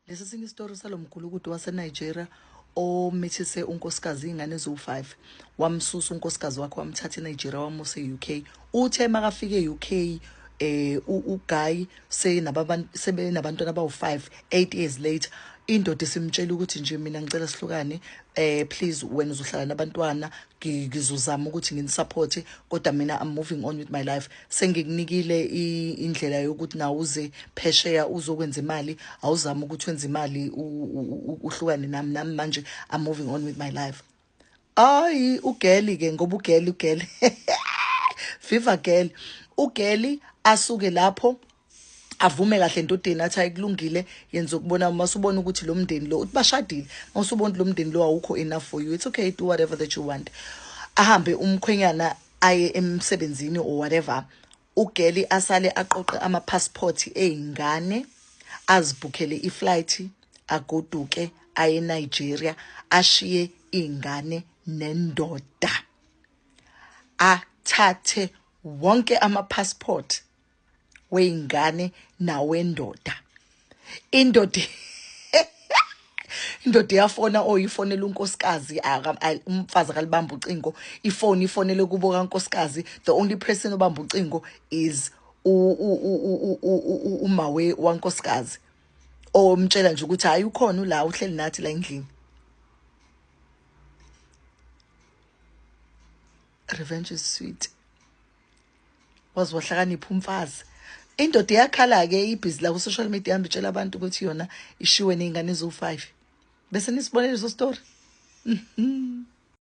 Lesi esinye isitori salo mgulukudu waseNigeria omithise unkosikazi iy'ngane eziwu-five wamsusa unkosikazi wakhe wamthatha enigeria wamusa e-uk uthe makafika e-uk eh uguy sebenabantwana abawu-five eight years later indoda isimtshela ukuthi nje mina ngicela sihlukane eh please wena uzohlala nabantwana ngizozama ukuthi nginisupporte kodwa mina I'm moving on with my life sengikunikile indlela yokuthi nawe uze phesheya uzokwenza imali awuzama ukuthi wenze imali uhlukane nami nami manje I'm moving on with my life ayi ugeli ke ngoba ugeli ugeli viva girl ugeli asuke lapho avume kahle endodeni athi ayikulungile yenza ukubona uma usubona ukuthi lo mndeni lo uthi bashadile uma usubona ukuthi lo mndeni lo awukho enough for you it's okay do whatever that you want ahambe umkhwenyana aye emsebenzini or whatever ugeli asale aqoqe amapassport eyingane azibhukhele iflight agoduke aye eNigeria ashiye ingane nendoda athathe wonke amapassport weyingane nawendoda indoda indoda iyafona o oh, ifonela unkosikazi umfazi akalibamba ucingo ifoni ifonele kubo kankosikazi the only person obamba ucingo is umawe wankosikazi omtshela nje ukuthi hayi ukhona ula uhleli nathi la endlini revenge is sweet waze wahlakanipha umfazi indoda iyakhala-ke ibhizi la ku-social media ihambe itshela abantu ukuthi yona ishiwe ney'ngane eziwu-five bese nisibonele iso story mm -hmm.